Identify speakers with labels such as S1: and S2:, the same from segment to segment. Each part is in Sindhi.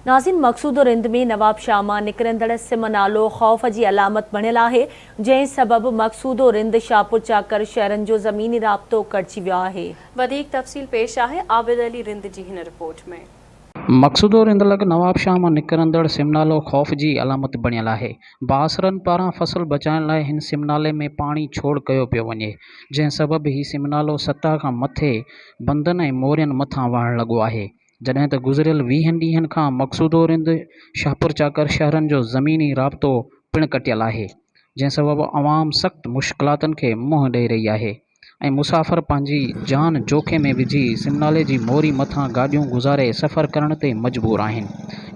S1: ناظرين مقصود رند ۾ نواب شاهه مان نڪرندڙ سم نالو خوف جي علامت بڻيل آهي جنهن سبب مقصود رند شاهپور چاڪر شهرن جو زميني رابطو ڪٽجي ويو آهي. وڌيڪ تفصيل
S2: پيش آهي عابد علي رند جي هن رپورٽ ۾. مقصود رند
S3: لڳ نواب شاهه مان نڪرندڙ سم نالو خوف جي علامت بڻيل آهي بااثرن پاران فصل بچائڻ لاء هن سم نالي ۾ پاڻي ڇوڙ ڪيو پيو وڃي جنهن سبب هي سم نالو سطح کان مٿي بندن ۽ مورين مٿان وهڻ لڳو آهي جڏهن ته گذريل ويهن ڏينهن کان مقصودو رند شاهپور چاڪر شهرن جو زميني رابطو پڻ ڪٽيل آهي جنهن سبب عوام سخت مشڪلاتن کي منهن ڏئي رهي آهي ۽ مسافر پنهنجي جان جوکي ۾ وجهي سمنالي جي موري مٿان گاڏيون گذاري سفر ڪرڻ تي مجبور آهن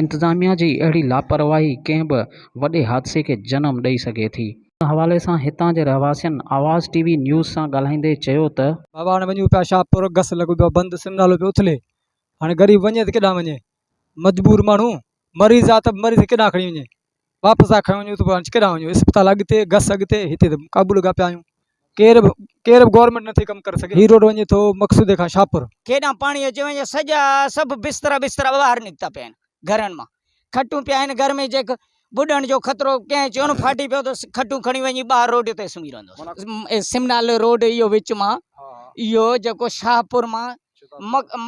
S3: انتظاميا جي اهڙي لاپرواهي ڪنهن به وڏي حادثي کي جنم ڏئي سگهي ٿي ان حوالي سان هتان جي رهواسين آواز ٽي وي نيوز سان ڳالهائيندي چيو ته. بابا هاڻي وڃون پيا
S4: شاهپور گس لڳو پيو آهي بند سم نالو پيو اٿلي هاڻي غريب وڃي ته ڪيڏانهن وڃي مجبور ماڻهو مريض آهي ته مريض کي ڪيڏانهن کڻي وڃي واپس آ کڻي وڃون ته پوء ڪيڏانهن وڃون اسپتال اڳتي گس اڳتي هتي ته قابو لڳا پيا آهيون ڪير به ڪير به گورمينٽ نٿي ڪم ڪري سگهي هي روڊ وڃي ٿو مقصودي کان شاهپور. ڪيڏانهن پاڻي اچي وڃي
S5: سڄا سڀ بسترا بسترا ٻاهر نڪتا پيا آهن گهرن مان. کٽون پيا آهن گهر ۾ جيڪ ٻڏڻ جو خطرو ڪنهن چيون ڦاٽي پيو ته کٽون کڻي وڃي ٻاهر روڊ تي سمهي رهندو سمنال روڊ اهو وچ مان اهو جيڪو شاهپور مان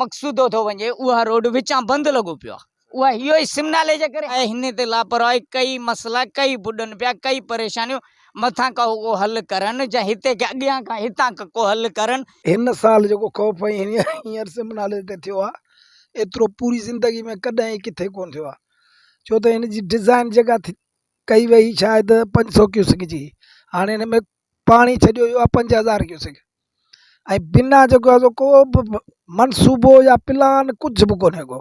S5: مقصودو ٿو وڃي اها روڊ وچان بند لڳو پيو آهي اها اهو ئي سمنالي جي ڪري آهي هن تي لاپرواهي ڪئي مسئلا ڪئي ٻڏن پيا ڪئي پريشانيون مٿان ڪا ڪو حل ڪرن جا هتي کي اڳيان کان هتان کان ڪو حل ڪرن. هن سال جيڪو
S6: خوف ۽ هينئر سمنالي تي ٿيو آهي ايترو پوري زندگي ۾ ڪڏهن ئي ڪٿي ڪونه ٿيو آهي ڇو ته هن جي ڊزائن جيڪا ٿي ڪئي وئي شايد پنج سو ڪيوسڪ جي هاڻي هن ۾ پاڻي ڇڏيو ويو آهي پنج هزار ڪيوسڪ ۽ بنا جيڪو آهي سو ڪو به منصوبو يا پلان ڪجهه به ڪونه ڪو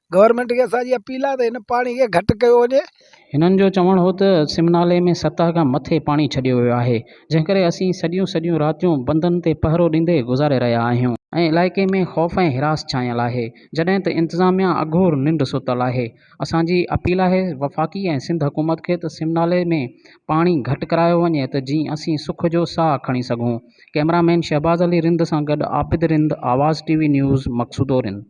S6: گورنمينٽ کي اسان جي اپيل آهي ته هن پاڻي کي گهٽ ڪيو وڃي. هنن جو چوڻ
S3: هو ته سم نالي ۾ سطح کان مٿي پاڻي ڇڏيو ويو آهي، جنهن ڪري اسين سڄيون سڄيون راتيون بندن تي پهرو ڏيندي گذاري رهيا آهيون ۽ علائقي ۾ خوف ۽ هراس ڇانيل آهي، جڏهن ته انتظاميا اگهور ننڊ ستل آهي، اسان جي اپيل آهي وفاقي ۽ سنڌ حڪومت کي ته سم نالي ۾ پاڻي گهٽ ڪرايو وڃي ته جيئن اسين سک جو ساهه کڻي سگهون، ڪئميرا مين شهباز علي رند سان گڏ عابد رند، آواز ٽي وي نيوز، مقصودو رند.